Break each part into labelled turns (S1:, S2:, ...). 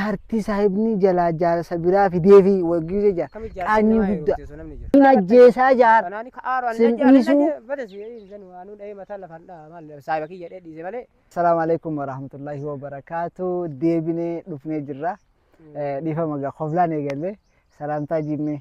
S1: Jaartii saahibnii jalaa jaarsa biraa fideefi wal giise jaar. Kami jaartii Qaanyii namaa guddaa. heerumte osoo namni jedhu. Hin ajjeesaa jaar. Kanaani ka aaru ani Sin najjaa dhiisuu. najjaa badas san waanuu dhahee mataa lafaan dhaha maal saahiba kiyya dhee dhiise malee. Salaamu alaikum warahmatullahi wabarakaatu. Deebinee dhufnee jirra. Eh, Dhiifama gaa koflaan eegalle. Salaamtaa jiimnee.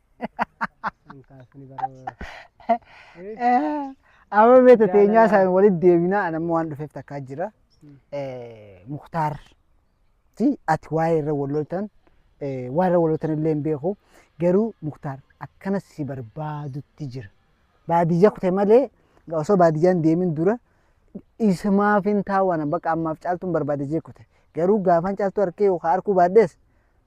S1: Amma mee tateenyaa isaan walitti deebinaa an amma waan dhufeef takkaa jira. Muktaar fi ati waa'ee irra wal loltan waan irra wal loltan illee hin beeku garuu Muktaar akkana si barbaadutti jira. Baadiyyaa kute malee osoo baadiyyaan deemin dura isumaaf hin taawwana bakka ammaaf caaltuun barbaade jee kute garuu gaafan caaltuu harkee yookaan harkuu baadhees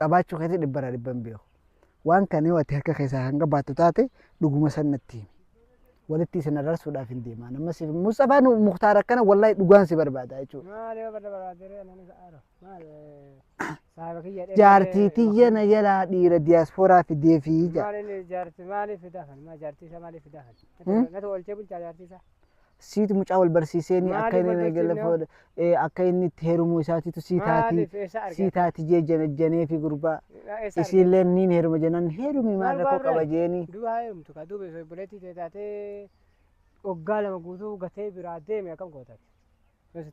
S1: qabaachuu keetii dhibba irraa dhibba hin beeku. Waan kana yoo ati harka keessaa kan qabaattu taate dhuguma san natti himi. Walitti isin ararsuudhaaf hin deemaa. Amma siif Musxafaa nu Muktaar akkana wallaahi dhugaan si barbaada jechuudha. Maali yoo barra barbaadere anani sa'aaro. Maali saaba kiyya dheeree. Jaartii tiyya na jalaa dhiira diyaaspooraa fidee fi jaartii. Maali inni jaartii maali fidaa kan? Maa jaartii isaa maali fidaa kan? Natu oolchee bulchaa jaartii isaa. siitu mucaa wal barsiiseenii akka Maaliif inni wal eegale barsiifne fuudha ee, akka inni itti heerumuu isaatiitu sii taati Maaliif eessa argate? sii taati jee janajjanee fi gurbaa Eessa argate? isiillee niin heeruma jennaan heerumii maal Maal rakkoo baarree? qaba jeeni Duuba haa heerumtu kaa duuba
S2: osoo obboleettii tee taatee waggaa lama guutuu gatee biraa deeme akkam gootate.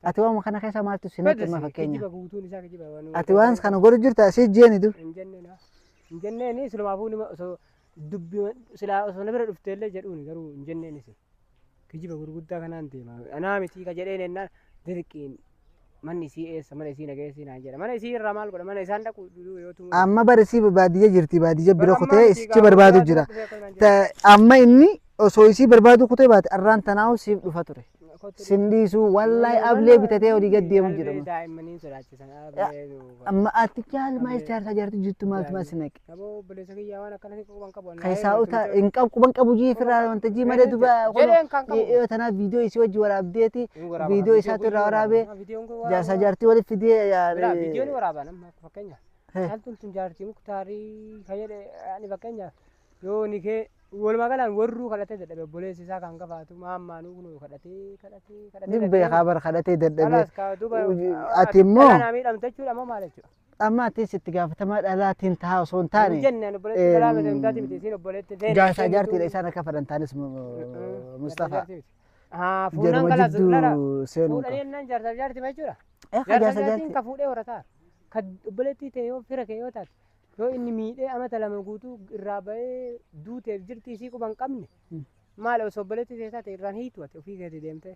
S2: ati waan
S1: kana keessa maaltu si naqe ma fakkeenya Kijiba guutuun isaa kijiba waan. ati waan kana godhu jirta si jeeni du Hin jenneen haa. Hin
S2: jenneen silumaafuu nima osoo dubbi silaa osoo na bira dhufteellee jedhuuni garuu hin jenneen isin. Kijiba gurguddaa kanaan deema. Anaa mitii ka jedheen ennaan dirqiin manni isii eessa mana isii nageessii naan jedha. Mana isii irraa maal godha mana isaan dhaqu duduu yoo tumuu. Amma bar isii baadiyya
S1: jirti baadiyya bira kutee isichi barbaadu jira. Ta- Amma inni osoo isii barbaadu kutee baate arraan tanaa'u siif dhufa ture. Sin dhiisu wallahi ablee bitatee olii gad deemu jedhama. Daa'immanii sodaachisan
S2: ablee. Amma
S1: ati jaalmaa ijaarsa ijaartu jirtu maaltu maal si naqe? Naboo obboleessa kiyyaa waan
S2: akkana si quban qabu. Kan isaa utaa hin qabu
S1: quban qabu jii firraa wanta jii malee duba Jedheen kan qabu. yoo tanaaf viidiyoo isii wajji waraabdeeti viidiyoo isaatu irraa waraabee jaarsa jaartii walitti fidee Biraa viidiyoon yaa- waraabaa
S2: nama fakkeenya. Hee. Caaltuun tun jaartii muktaarii kan jedhe ani fakkeenya yoo ni kee walumaa galaan warruu kadhatee dadhabe obboleessi isaa kan gafaatu maammaanuu kunuu kadhatee kadhatee kadhatee. ni beekaa bar
S1: kadhatee dadhabee Kalaas kaa duuba Ati immoo- Miidhamte jechuudha moo
S2: maal jechuudha? Amma atis itti
S1: gaafatamaa dhalaatiin tahaa osoo hin Hin taane jenne ani obboleetti Em, dhalaa miti
S2: mitaati miti isiin obboleetti ta'e. jaarsaa jaartiidha isaan akka
S1: fedhan taanis Mustafaa. Haa
S2: fuudhaan Jaruma kalaas lara. jidduu seenuu Fuudhanii qaba. jennaan jaarsaaf jaartima jechuudha. Eh, Jaarsa jaarsa jaartiin jaartii. ka fuudhee horataa. Ka obboleettii ta'e yoo fira kee yoo taate. Yoo inni miidhee amata lama guutuu irraa ba'ee duuteef jirti isii quba hin qabne. Hmm. Maal osoo obboleettii ta'e taate irraan hiitu ati ofii keetii deemtee.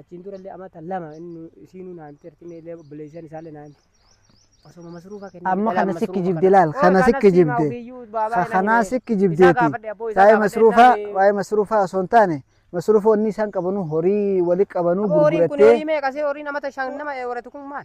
S2: achiin durallee amata lama inni isiinuu naan jirti inni illee obboleessan isaallee naan osoma masruufa kennee Amma kana si kijibde
S1: laal, kana si kijibde. Ka kanaa si kijibdeeti. Waa'ee masruufaa, waa'ee masruufaa osoo hin taane, masruufa wanni isaan qabanu horii wali qabanu Horiin kun gurgurattee horii meeqa
S2: see horiin amata shan nama waratu kun maal?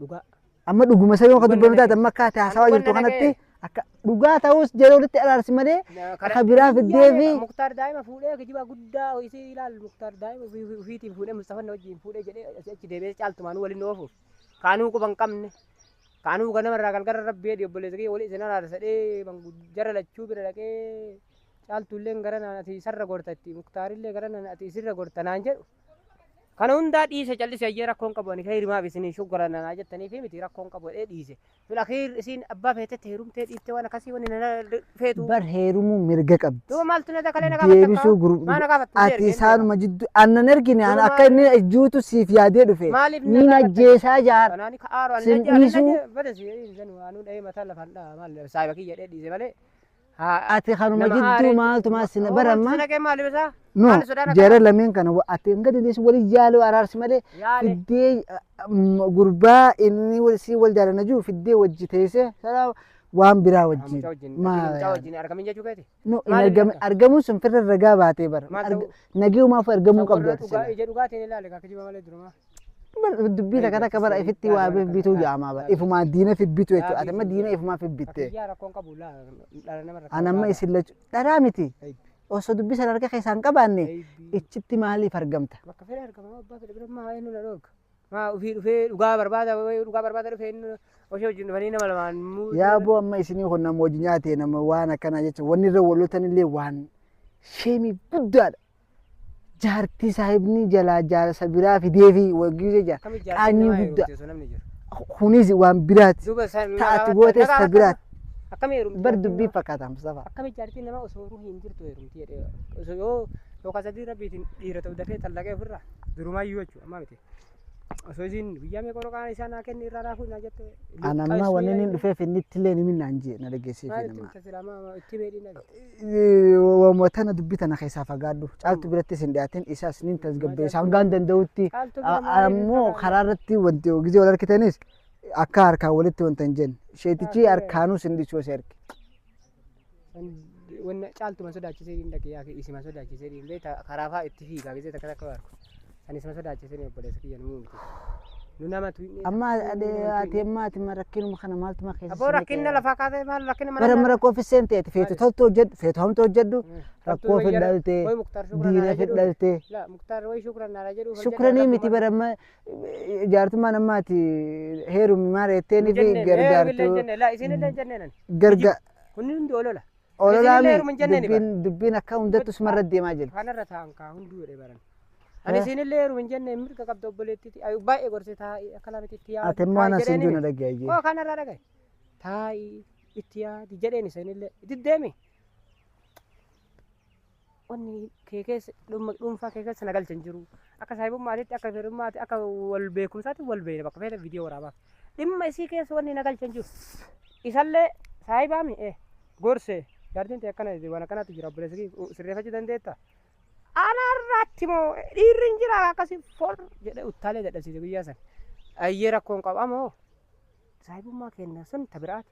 S2: dhugaa Amma dhuguma
S1: isa yoo akka Dhugaa dubbannu nama taate amma akka ati haasawaa Dhugaa jirtu nama kanatti kee. akka dhugaa ta'us jara walitti araarsi malee akka biraa fiddee fi muktaar daa'ima fuudhee
S2: kijibaa guddaa isii ilaal muktaar daa'ima ofii- ofii- ofiitiin fuudhee mustafan na wajjin fuudhee jedhee asii achi deebi'ee caaltumaan waliin oofu kaanuu quba hin qabne kaanuu ganama irraa galgala rabbi jedhi obboleessa kee walii isin araarsadhee jara lachuu bira dhaqee caaltuulleen gara naan ati isarra gorta itti muktaarillee gara naan ati isirra gorta naan jedhu Kana hundaa dhiise callise ayyee rakkoon qabu ani kayrimaaf isinii shuggalanna naa jettaniifi miti rakkoon qabu jedhee dhiise. Fil akhiir isiin abbaa feetetti heerumtee dhiiftee waan akkasii wani na feetu. Bar heerumuu
S1: mirga qabdi. Duuba maaltu na dakalee na gaafatta
S2: Deebisuu kaa? gurguru. Maa na gaafattu
S1: Ati jeergeen deema.
S2: isaanuma
S1: jidduu aannan ergine Duuba ana akka maali? inni ajjuutu siif yaadee dhufe. Maaliif na Ni gaafatta? najjeesaa
S2: jaar. Kanaani
S1: ka aaru ani Sin na jaa- ani
S2: na dhiisuu. jaa- bada
S1: si-
S2: hin sanu
S1: anuu
S2: dhahee mataa lafaan dhaha maal saahiba kiyya jedhee dhiise malee haa Ati
S1: kanuma Nama jidduu aaree- maaltu maal sina bara Maaltu ammaa? si naqee maaliif isaa?
S2: No, Maal sodaana jara kana?
S1: lameen kana wa- ati hanga dandeessu wal jaaloo araarsi malee Yaale. fiddee mm, gurbaa inni wal- si wal jaalana jiru fiddee wajji teessee sana waan biraa wajjin. Mucaa wajjin. Maal Mucaa yaala? wajjin
S2: argamin jechuu keeti. No, hin maal argame- ilaala?
S1: argamuun
S2: sun firra ragaa
S1: baatee bara. Maal Arga- ta'uu? Nageerumaaf
S2: argamuu Kan
S1: qabdu warra ati dhugaa sila. ija dhugaatiin ilaale kan kijiba
S2: malee durumaa. dubbii
S1: takka takka bara ifitti waa bibbituu jaamaa bara ifumaa diina fibbitu jechuudha ati amma diina ifumaa fibbitte Biyyaa rakkoon qabu
S2: laa dhala nama rakkoon an amma isin lachu
S1: dharaa miti osoo dubbii sana harka keessaan qabaanne ichitti maaliif argamta Bakka fedhe argama abbaa
S2: fedhe bira maa eenyu na dhorka. Maa ofii dhufee dhugaa barbaada wayii dhugaa barbaada dhufee inni osoo wajjin dhufanii nama lamaan muu. yaa boo amma isinii
S1: kun nama hojii nyaate nama waan akkanaa jecha wanni irra walotan illee waan sheemii guddaadha jaartii saahibni jalaa jaarsa biraa fideefi waggii jecha Akkami jaartiin qaanyii namaa guddaa heerumte osoo namni jiru. kunis waan biraati Duuba isaa nama taati hawaasa- goote nama isa hawaasa- biraati Akkami heerumte bar jaartiin
S2: dubbii namaa? fakkaata
S1: Mustafaa. Akkami jaartiin namaa osoo
S2: ruhi hin jirtu heerumti jedhee osoo yoo yookaan sadii rabbiitiin dhiira ta'u dafee xallaqee ofirraa durumaa iyyuu jechuudha ammaa miti. Osoo isiin guyyaa meeqa warra qaana isaa naa kenni irraa naa fuudhi naa jette. An amma wanni inni
S1: dhufeef inni itti illee nimin naan jee na dhageessiif Maal itti nama. himta silaa maa
S2: itti meedhii na Waamuma tana dubbii
S1: tana keessaa fagaadhu. Caaltu birattis hin dhiyaatin isaas nin tasgabbeessa hangaan danda'utti. Caaltu bira maaliif Ammoo hin karaa irratti wanti gisee wal harkitanis akka harkaan walitti wanta hin jenne. Sheetichi harkaanuu sin dhiisuu si harki.
S2: Wanna caaltuma sodaachisee hin dhaqee yaa isima sodaachisee hin beekta karaa fa'aa itti fiigaa beekta takka takka waarku. San isima sodaachisee ni obboleessa kiyya nu muumti. Nu nama tuinni. Amma ati
S1: amma ati rakkinuma kana maaltuma keessa Abboo rakkinna lafaa kaasee
S2: maal rakkinna mana. Bara mara koofi seente
S1: ati feetu toltu hojjedhu feetu hamtu hojjedhu rakkoo fi dhalte diina fi dhalte. Muktaar way shukran
S2: naara jedhu. Shukranii miti bara amma
S1: Jaartummaan ammaa ati heerumi maara jetteeni fi gargaartu. Garga Kunni hundi olola. ololaa
S2: isinillee heeruma hin jenneeni
S1: bara. dubbiin dubbiin akka hundattu sumarra deemaa jirti. Kanarra taa'an kaa hunduu
S2: jedhe baran. Ani isinillee heeruma hin jenne mirga qabda obboleettiiti. Ayu baay'ee gorse taa'i akka lama itti yaadu. Ati immoo anas hin jiru
S1: dhaggeeyyee. Koo kanarraa dhagaye.
S2: Taa'i itti yaadi jedheen isinillee. Itti deemi. wanni kee keessa dhumma dhuunfaa kee keessa na galcha hin jiru. Akka saahibummaatitti akka firummaatti akka wal beekumsaatti wal beeyna bakka feete viidiyoo waraabaaf. Dhimma isii keessa wanni na galcha hin jiru. Isallee saahibaa mi ee gorse jaartiin tee akkana waan akkanaatti jira obboleessa kee sirreeffachuu dandeetta. Ana irratti moo dhiirri hin jira akkasii fol jedhee uttaalee dadhabsiise guyyaa sana. Ayyee rakkoon qaba moo saahibummaa keenya sun ta biraati.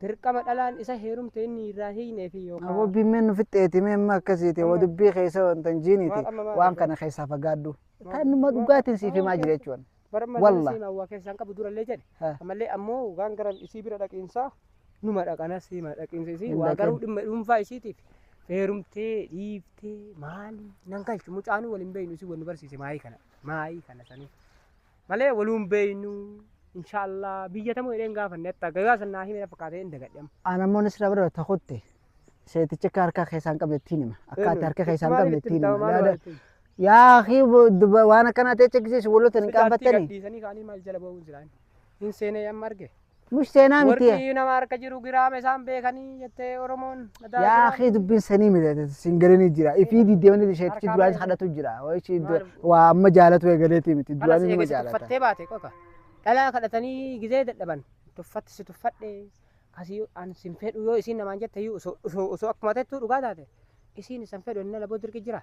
S2: Dirqama dhalaan isa heerumte inni irraa hin hiiknee fi yookaa. Aboo bimmeen nu fixxeeti
S1: mee amma akkasiiti wa Amma. dubbii keessa wanta hin jiiniiti Waan amma maal waan argate? kana keessaa fagaadhu. Maal? Taannuma Waan- dhugaatiin siif waan himaa jira keessa- jechuun. Bara malee Wallah.
S2: siima waa keessaan qabu durallee jedhe. Ha. Ammallee ammoo waan gara isii bira dhaqiinsaa numa dhaqana siima dhaqiinsa isii Hin waa dhaqin. garuu dhimma dhuunfaa
S1: isiitiif
S2: heerumtee dhiiftee maali nan galchu mucaanuu waliin beeynu isii wal nu barsiise maayii kana maayii kana sanii. malee waluu hin beeynu inshaallaa biyya tamoo jedheen gaafanne atta gagaa san naa hime na fakkaatee hin dagadhe amma. Aan ammoo nisra bira ta
S1: kutte seetichi akka harka keessaa hin qabne ittiin hima akka ati harka keessaa hin qabne ittiin hima yaada yaa akii duba waan akkanaa ta'e chekkisiisu waloota hin qaanfattanii Gadhiisanii kaanii maal jala
S2: ba'uun jiran hin seenee amma arge. Mush seenaa miti.
S1: Warqii nama harka jiru
S2: giraama isaan beekanii jettee Oromoon. Mataa Yaa giraama. kee dubbiin
S1: sanii miti siin galanii jira. Ifii diddemanii isheetti Harkaa duraan baay'ee. kadhatu jira. Wayichi Maal? waa amma jaalatu eegaleeti miti Halas duraan nama eegasi jaalata. tuffattee baate qofa.
S2: Dhalaa kadhatanii gizee dadhaban tuffatti si tuffadhe kasii an sin fedhu yoo isiin namaan jette iyyuu osoo osoo osoo akkuma tettuu dhugaa taate isiin isan fedhu inni laboo dirqi jira.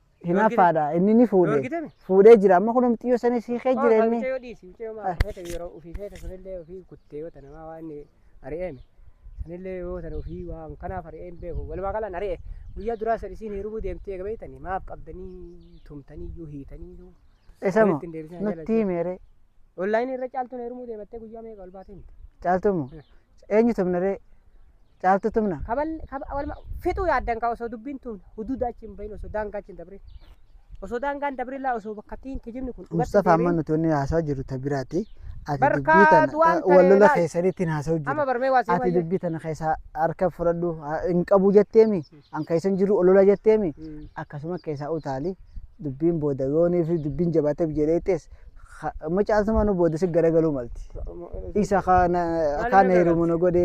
S1: Hinaaffaadha inni ni fuudhe. Dorgitame? Fuudhee jira amma kun xiyyoo sana isii kee jira inni. Mucayyoo dhiisi. Mucayyoo maal feete yeroo
S2: ofii feete sanillee ofii kuttee yoo tana maa waan ari'eeme. Sanillee yoo tana ofii waan kanaaf ari'een beeku. Walumaa galaan ari'e. Guyyaa duraa san isiin hirubuu deemtee eega beektanii maaf qabdanii tumtanii iyyuu hiitanii iyyuu. Isa moo Walitti hin
S1: deebisin nutti himeere Onlaayinii irra
S2: caaltuun heerumuu deemattee guyyaa meeqa ol baatee himte. caaltumo
S1: Eenyu tumna ree? Caaltuu tumna? Kabal kaba walma
S2: fixuu yaaddan kaa osoo dubbiin tun huduuda achi hin bahin osoo daangaa achi hin dabrin. Osoo daangaan dabrin laa osoo bakka ittiin kijibni kun dhugatti Mustafa amma deebiin. nuti wanni
S1: haasaa jiru ta biraati. Ati Barkaa dubbii tana du'aan ta- ta'e wal lola laal. keessaniitti hin haasa'u jiru. Amma barmee waa Ati seemaa jiru. dubbii tana keessaa harka fudhadhu ha- hin qabu jetteemi. an keessan jiru olola jetteemi akkasuma keessaa utaali dubbiin booda yoonii fi dubbiin jabaateef jedheettees macaaltuma nu booda si garagaluu malti. Isa kana kaan heerumu nu godhe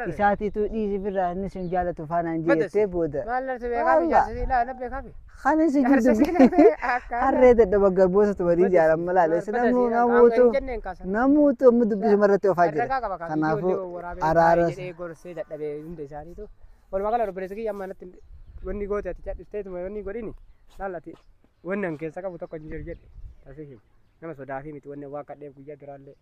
S1: isaatiitu dhiisii firraa inni sin jaalatu faanaan jeettee booda. Kan isin jirtu harree dadhaba garboota tumanii jaalan malaale si namuu namuutu namuutu amma dubbisuma irratti ofaa jira. Kanaafuu araara.
S2: Walumaa gala obboleessa kiyya amma natti wanni goote ati cadhifteetuma wanni godhini laal ati wanni an keessa qabu tokko hin jiru jedhe tasii hima. Nama sodaafii miti wanni waa kadhee guyyaa duraallee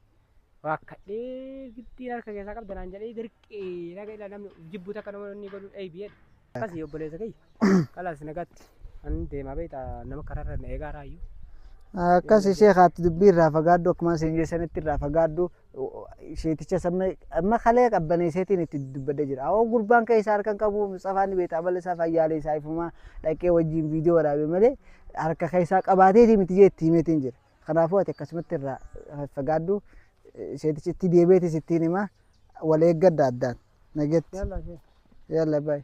S2: waa kadhee giddii harka keessaa qabda naan jedhee dirqii naga ila namni jibbuu takka nama wanni godhu eebi jedhe. Akkasii obboleessa kiyya kalaas nagaatti an deemaa beekta nama karaarra na eegaa raayyuu. Akkasi
S1: sheekaatti dubbii irraa fagaaddu akkuma isin jeessanitti irraa fagaaddu Sheeticha sammee amma kalee qabbaneesseetiin itti dubbadda jira. Awoo gurbaan keessa harkan qabu Musxafaa ni beektaa bala isaa fayyaalee isaa ifumaa dhaqee wajjin viidiyoo waraabee malee harka keessaa qabaateetii miti jee itti himeetiin jira. Kanaafuu ati akkasumatti irraa fagaadhu sheetichi itti deebi'eetis ittiin himaa wal eeggadha addaan nageetti. Yalla baay'ee.